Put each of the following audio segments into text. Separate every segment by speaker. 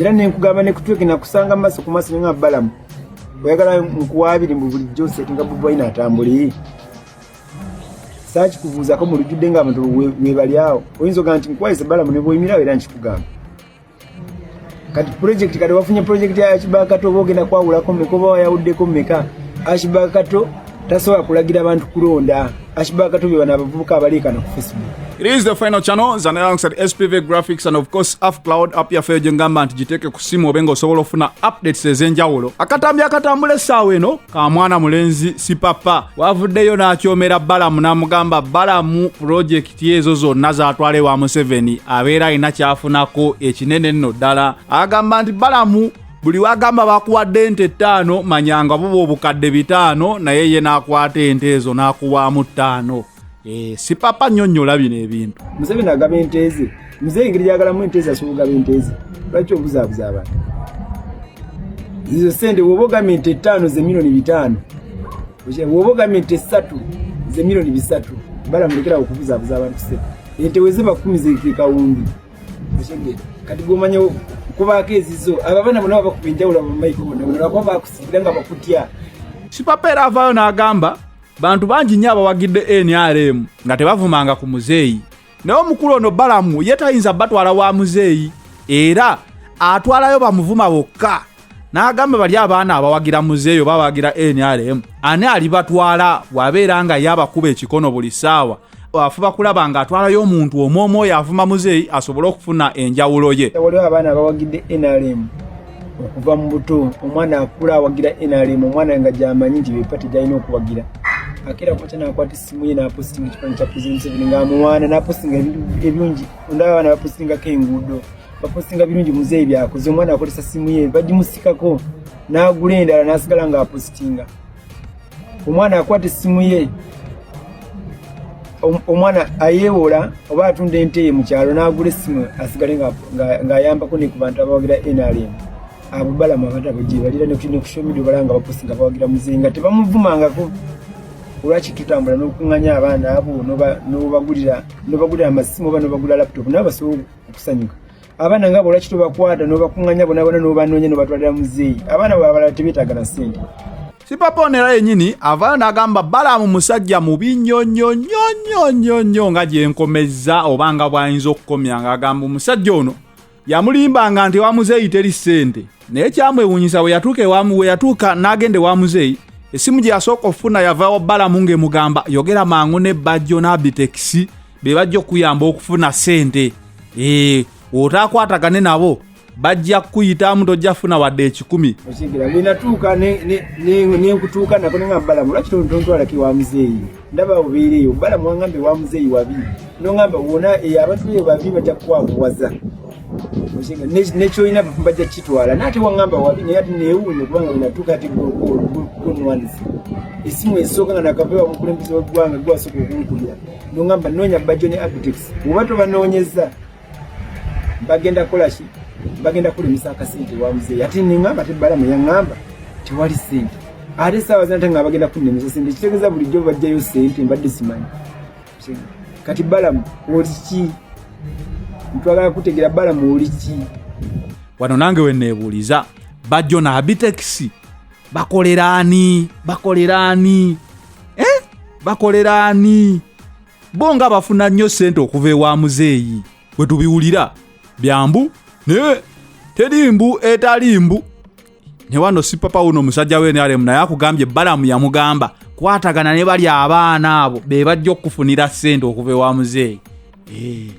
Speaker 1: era nenkugamba nekutwegenda kusanga maso ku maso nga balamu oyagala nkuwabiri mbu bulijjo osetinga bubwaine atambuli sakikubuuzako mu lujjudde nga abantu webali awo oyinza oga nti nkuwaise balamu nebwoyimirawo era nkikugamba kati project kati wafunye project ya ashibakato bogenda kwawulako meka oba wayawuddeko meka ashibakato tasobola kulagira abantu kulonda ashibakato bye bano abavubuka abaleekana ku facebook It is the final channel
Speaker 2: zan alongside SPV graphics and of course Af Cloud app ya Fejo Ngamba nti jiteke kusimu obenga osobola ofuna updates ezenjawulo. Akatambi akatambule sawe no ka mwana mulenzi si papa. Wavuddeyo n'akyomera Balamu n'amugamba Balamu project ti ezo zonna zatwala ewa museveni abeera alina kyafunako ekinene nno ddala agamba nti balamu buli wagamba bakuwadde ente ttaano manyanga buba obukadde bitaano naye ye n'akwata ente ezo n'akuwaamu ttaano eh, sipapa nnyo nnyo olabino ebintu museveni agaba ente
Speaker 1: ze mzee engeri gyagalamu ente ze asobola ogaba ente ze lwaki obuzaabuza abantu izo sente woba ogamba ente ttaano ze milioni bitaano woba ogambye nti esatu ze milioni bisatu balamulekerawo okubuzabuza abantu se ente weziba kumi zekekawumbi kati gomanya kubaako ezizo abo abaana bona babakuba enjawulo abamaiko bona bona bakuba bakusigira nga bakutya sipapa era
Speaker 2: avaayo n'agamba bantu bangi nnyo abawagidde nrm nga tebavumanga ku muzeeyi naye omukulu ono balamu ye tayinza batwala wa muzeeyi era atwalayo bamuvuma bokka n'agamba bali abaana abawagira muzeeyi oba abawagira nrm ani alibatwala wabeera nga ye abakuba ekikono buli ssaawa afuba kulaba nga atwalayo omuntu omu omu oyo avuma muzeeyi asobole okufuna enjawulo ye waliwo abaana abawagidde
Speaker 1: nrm okuva mu buto omwana akula awagira nrm omwana nga gyamanyi nti bepate gyalina okuwagira akeera kwata nakwata essimu ye napostinga ekifanani kya president ebiri nga amuwaana napostinga ebirungi ondaba abaana bapostingako enguudo bapostinga birungi muzeeyi byakoze omwana akozesa simu ye bagimusikako n'agula endala n'asigala ng'apostinga omwana akwata essimu ye omwana ayeewola oba atunda ente ye mu kyalo n'agula essimu asigale ng'ayambako ne ku bantu abawagira nrm abo balamu abatabo gyebalira nekushomidio bala nga baposi nga bawagira muzinga tebamuvumangako olwaki tutambula n'okukunganya abaana abo nobagulira amasimu oba nobagula laptop nawe basobola okusanyuka abaana nga bo olwaki tobakwata nobakunganya bonabona nobanoonya nobatwalira muzeeyi abaana bwe abalala tebetaaga na ssente sipapa ono
Speaker 2: era yenyini avaayo n'agamba balaamu musajja mubi nnyo nnyo nnyo nnyo nnyo nnyo nga gyenkomezza oba nga bw'ayinza okukomya ng'agamba omusajja ono yamulimbanga nti ewa muzeeyi teri ssente naye kyamwewuunyisa bwe yatuuka ewamu we yatuuka n'agenda ewa muzeeyi essimu gye yasooka okufuna yavawo balamu ng'emugamba yogera mangu ne bajjo n'abitekisi be bajja okuyamba okufuna ssente ee eh, otaakwatagane nabo bajja kukuyitamu tojja funa wadde ekikumi bwenatuuka
Speaker 1: nenkutuuka nako nenga balamu lwaki tontwalaki wa muzeeyi ndaba obeereeyo balamu wangambe wa muzeeyi wabi nongamba wona eyo abantu eyo babi bajja kukwakuwaza nekyolina bajja kukitwala naye ate wangamba wabi naye ati neewuunya kubanga wenatuuka ati gonwanisa esimu esooka nga nakavewa mukulembeze wegwanga gwasooka okunkubira nongamba noonya bajjo ne abitex oba tobanoonyeza bagenda kukola ki bagenda kulimisa akasente wa muzeeyi ate neŋamba te balamu yaŋamba tewali sente ate saawa zinate nga bagenda kunnemesa sente kitegeeza bulijjo bajjayo sente mbadde simanyi kati balamu oli ki ntwagala kutegera balamu oli ki wano
Speaker 2: nange weneebuuliza bajjo na abitekisi bakolera ani bakolera ani eh? bakolera ani bo nga bafuna nnyo ssente okuva ewa muzeeyi we tubiwulira byambu naye teri mbu etali mbu ne wano sipapa wuno omusajja we nrm naye akugambye balamu yamugamba kwatagana ne bali abaana abo be bajja okukufunira ssente okuva ewa muzeeyi eh,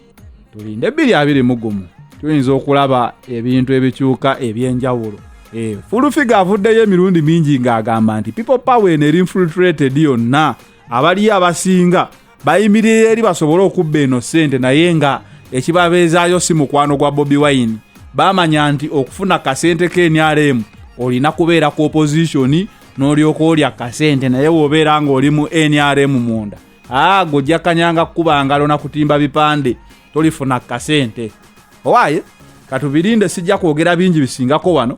Speaker 2: tulinde ebbiri abiri mugumu tuyinza okulaba ebintu ebikyuka ebyenjawulo eh, fulufiga avuddeyo emirundi mingi ng'agamba nti people power eno eri infiltrated yonna abaliyo abasinga bayimirira eri basobole okubba eno ssente naye nga ekibabeezaayo si mukwano gwa bobi wine bamanya nti okufuna kasente ke nrm olina kubeera ku opozitioni n'olyoka olya kasente naye wobeera ng'oli mu nrm munda aa gojja kanyanga kukuba ngalo na kutimba bipande tolifuna kasente owaye katubirinde sijja kwogera bingi bisingako wano